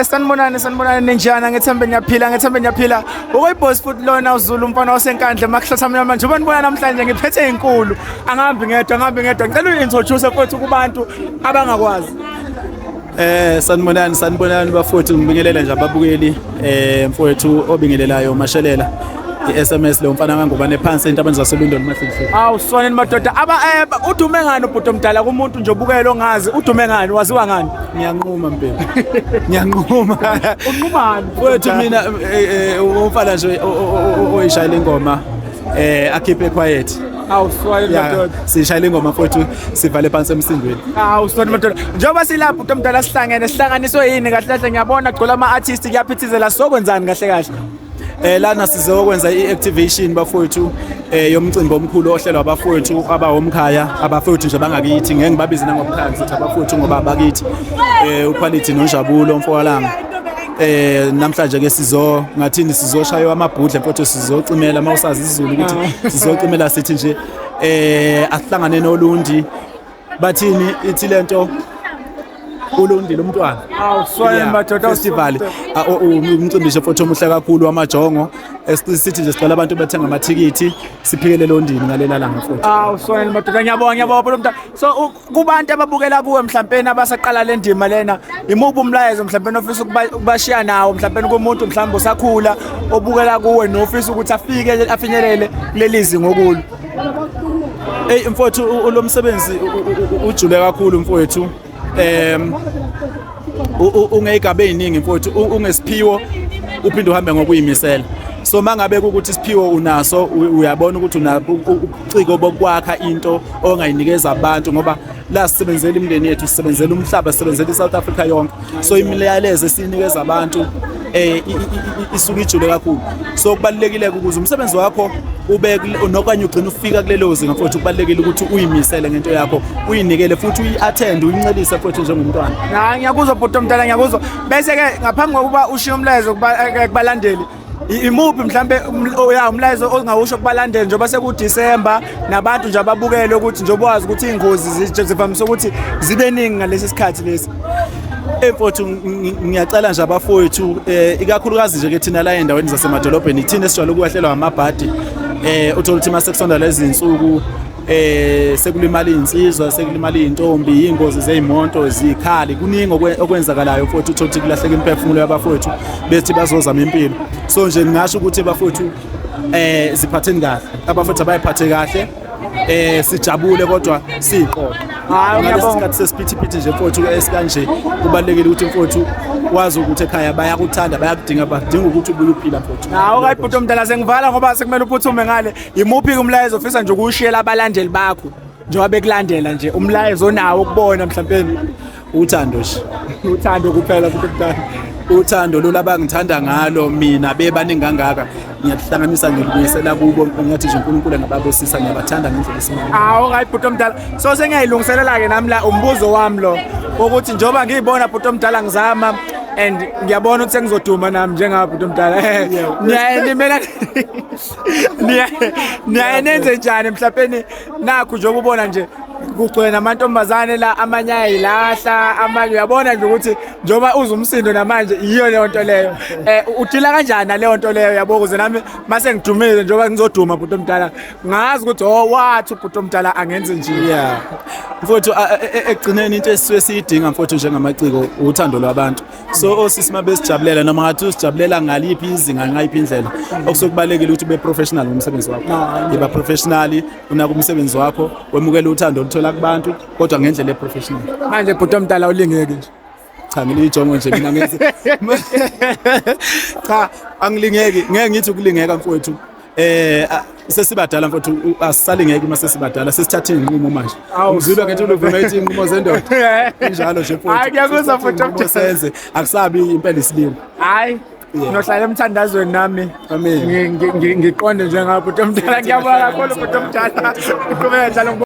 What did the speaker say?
sanibonani sanibonani ninjani ngethembe niyaphila ngethembe niyaphila okuyibhosi futhi lona uzulu umfana wasenkandla makuhlatha mnyama njengoba nibona namhlanje ngiphethe inkulu angihambi ngedwa angihambi ngedwa ngicela uyintroduce futhi kubantu abangakwazi Eh sanibonani sanibonani bafowethu ngibingelela nje ababukeli eh mfowethu obingelelayo uMashelela iSMS lo mfana kangubane phansi entabeni zaseLondon mahlise. Awu sonini madoda aba eh, udume ngani ubhuti omdala kumuntu nje obukela ongazi udume ngani waziwa ngani? Ngiyanquma mpela. Ngiyanquma. Unqumani? Mfowethu mina eh, eh, umfana nje oyishayela ingoma eh akhiphe quiet. Awu swayile madoda. Sishayile ingoma futhi sivale phansi emsindweni. Awu swayile madoda. Njengoba silapha umuntu omdala sihlangene sihlanganiswe yini kahle kahle ngiyabona gcola ama artist kuyaphithizela sokwenzani kahle kahle. Eh lana sizokwenza iactivation bafowethu eh yomcimbi omkhulu ohlelwa abafowethu abahomkhaya abafowethu nje bangakithi ngeke ngibabize nangomkhathi abafowethu ngoba abakithi eh uquality nonjabulo mfokalanga eh namhlanje ke sizo ngathini sizoshaywa amabhudla mfowethu sizocimela uma usazi isizulu ukuthi ah. sizocimela sithi nje eh asihlangane nolundi bathini ithi lento ulundi lomntwana awuswaye madoda festival ah, umcimbi nje mfowethu omuhle kakhulu wamajongo esithi nje sicela abantu bethenga amathikithi siphikele londini ngalela langa mfowethu awuswaye madoda ngiyabonga ngiyabonga lo mntana so kubantu ababukela kuwe mhlawumbe abasaqala le ndima lena imuphi umlayezo mhlawumbe ofisa ukubashiya nawo mhlawumbe kumuntu mhlawumbe usakhula obukela kuwe nofisa ukuthi afike afinyelele kuleli zinga okulo eyi mfowethu lo msebenzi ujule kakhulu mfowethu um ungeyigaba eziningi mfowethu ungesiphiwo uphinde uhambe ngokuyimisela so mangabe ukuthi isiphiwo unaso uyabona ukuthi una ubuciko bokwakha into ongayinikeza abantu ngoba la sisebenzela imindeni yethu sisebenzela umhlaba sisebenzela iSouth Africa yonke so imiyalezo esinikeza abantu eh isuke ijule kakhulu so kubalekile ukuze umsebenzi wakho ube nokanye ugcina ufika kulelo zinga futhi kubalekile ukuthi uyimisele ngento yakho uyinikele futhi uyiattend uyincelise futhi njengomntwana hayi ngiyakuzwa bhuti omntana ngiyakuzwa bese ke ngaphambi kokuba ushiye umlayezo eh, kubalandeli imuphi mhlambe um, oh, ya umlayezo ongawusho kubalandeli njengoba sekuDisemba nabantu nje ababukele ukuthi njengoba wazi ukuthi ingozi zivamise ukuthi zibe ningi ngalesi sikhathi lesi emfowethu ngiyacela nje abafowethu um eh, ikakhulukazi nje ke thina la endaweni zasemadolobheni ithina esijwayele ukwehlelwa amabhadi um eh, uthole ukuthi uma sekusonda lezi nsuku eh sekulimala insizwa sekulimala intombi ingozi zezimonto zikhali kuningi okwenzakalayo futhi uthothi kulahleka imphefumulo yabafowethu bethi bazozama impilo so nje ngingasho ukuthi bafowethu eh ziphatheni kahle abafowethu abayiphathe kahle eh sijabule kodwa siqoqa hayi ngiyabonga isikhathi sesiphithiphithi nje mfowethu esikanje kubalekile ukuthi mfowethu wazi ukuthi ekhaya bayakuthanda bayakudinga badinga ukuthi ubuye uphila mfowethu hawo kayi bhuti omdala sengivala ngoba sekumele uphuthume ngale imuphi umlayezo ofisa nje ukushiyela abalandeli bakho njengoba bekulandela nje umlayezo onawo ukubona mhlawumbe uthando nje uthando kuphela futhi mntana uthando lolu abangithanda ngalo mina bebaningi kangaka ngiyahlanganisa ngilibuyisela kubo ngiyathi nje uNkulunkulu angababusisa ngiyabathanda ngendlela esimanga awu right bhuti omdala so sengiyayilungiselela ke nami la umbuzo wami lo ukuthi njengoba ngiyibona bhuti omdala ngizama and ngiyabona ukuthi sengizoduma nami njengaba bhuti omdala niyaye nimela niyaye nenze njani mhlawumbe nakhu nje ukubona nje kugcwele namantombazane la amanye ayayilahla amanye uyabona nje ukuthi njengoba uza umsindo namanje yiyo leyo nto leyo um udila kanjani naleyo nto leyo yabo kuze nami uma sengidumile njengoba ngizoduma bhuti omdala ngazi ukuthi o oh, wathi ubhuti omdala angenzi nje ya mfowethu e, e, ekugcineni into esisuke siyidinga mfowethu njengamaciko uthando lwabantu so osisi uma besijabulela noma ngathi usijabulela ngaliphi izinga ngayiphi indlela okusokubalekile ukuthi ube professional ngomsebenzi wakho yiba professional unaka umsebenzi wakho wemukela uthando oluthola kubantu kodwa ngendlela eprofessional manje bhuti omdala ulingeke nje cha ngilijongo nje mina ngenze cha angilingeki ngeke ngithi ukulingeka mfowethu eh sesibadala mfowethu asisali ngeke uma sesibadala sesithathe inqumo manje uzilwa ngethi uluvuma ithi inqumo zendoda injalo nje mfowethu hayi ngiyakuzwa mfowethu senze akusabi impela isilimo hayi nohlala emthandazweni nami ngiqonde njengabo bhuti omdala ngiyabona kakhulu bhuti omdala uqhubeka njalo